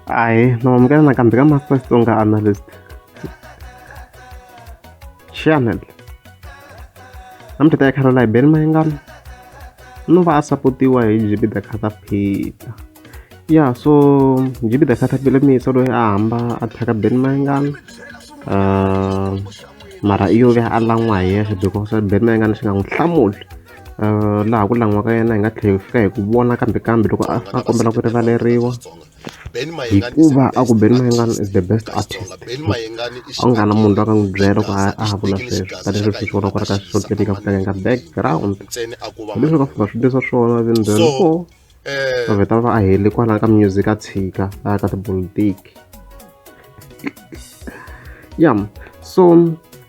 Hayi, nowamukela nakambe ka Master Xitsonga Analyst Channel. Namuntlha ta khalo laha Ben Mayengani no va a sapotiwa hi Jibida Catapita. Ya so Jibida Catapita mi yisa loyi a hamba a thyaka Ben Mayengani. Uh, mara iyo ve a lan'wa hi yexe because Ben Mayengani xi nga n'wi hlamuli. uh, laha ku langiwa ka yena hi nga tlhela hi fika hi ku vona kambe kambe loko a a kombela ku rivaleriwa hikuva a ku beni mayengani is the best artist a nga na munhu loyi a nga n'wi byela ku a a ha vula sweswi tanihileswi swi vona ku ri ka swo tivika ku tlangeka background leswi ka fika swi leswa swona then then four eh. vavheta va va a heli kwalaya ka music a tshika a ya ka tipolitiki ya so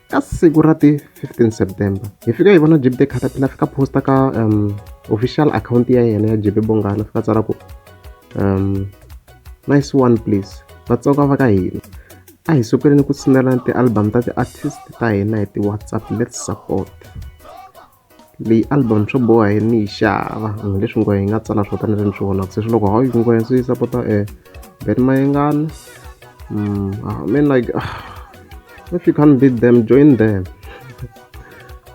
ka siku ra ti 15 september hi fika hi vona jibde caterpillar fika posta ka um, official account ya yena ya jebe bongana fika tsala ku um, nice one please vatsonga va ka hina a hi sukeleni ku tshinelana ti-album ta ti-artist ta hina hi ti-whatsapp let's support Leyi album swo boha yini ni yi xava hambileswi nghohe yi nga tsala swo tani leswi ni swi vonaka se swi loko hawu nghohe ndzi yi sapota Ben Mayengani I mean like if you can't beat them join them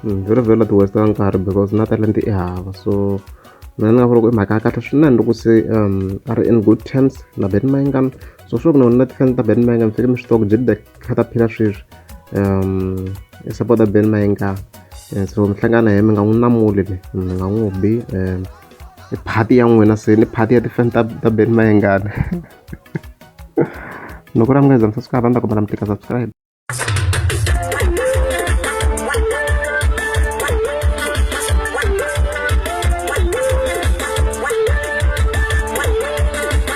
vhela vhela ti waste nkarhi because na talenta i hava so mina ni nga vula ku i mhaka ya kahle swinene loko se a ri in good terms na Ben Mayengani so sure ku na wena na ti-fans ta Ben Mayengani mi fanekele mi swi tiva ku Jimdek kha ta phila sweswi um i support-a ben mayenga eh, so mi hlangana hi mi nga n'wi namuli le mi nga n'wi bi um i phati ya n'wina se ni phati ya tifan ta ta ben mayengana loko ra mi nga za mi subscribe a ni ta kombela mi tika subscribe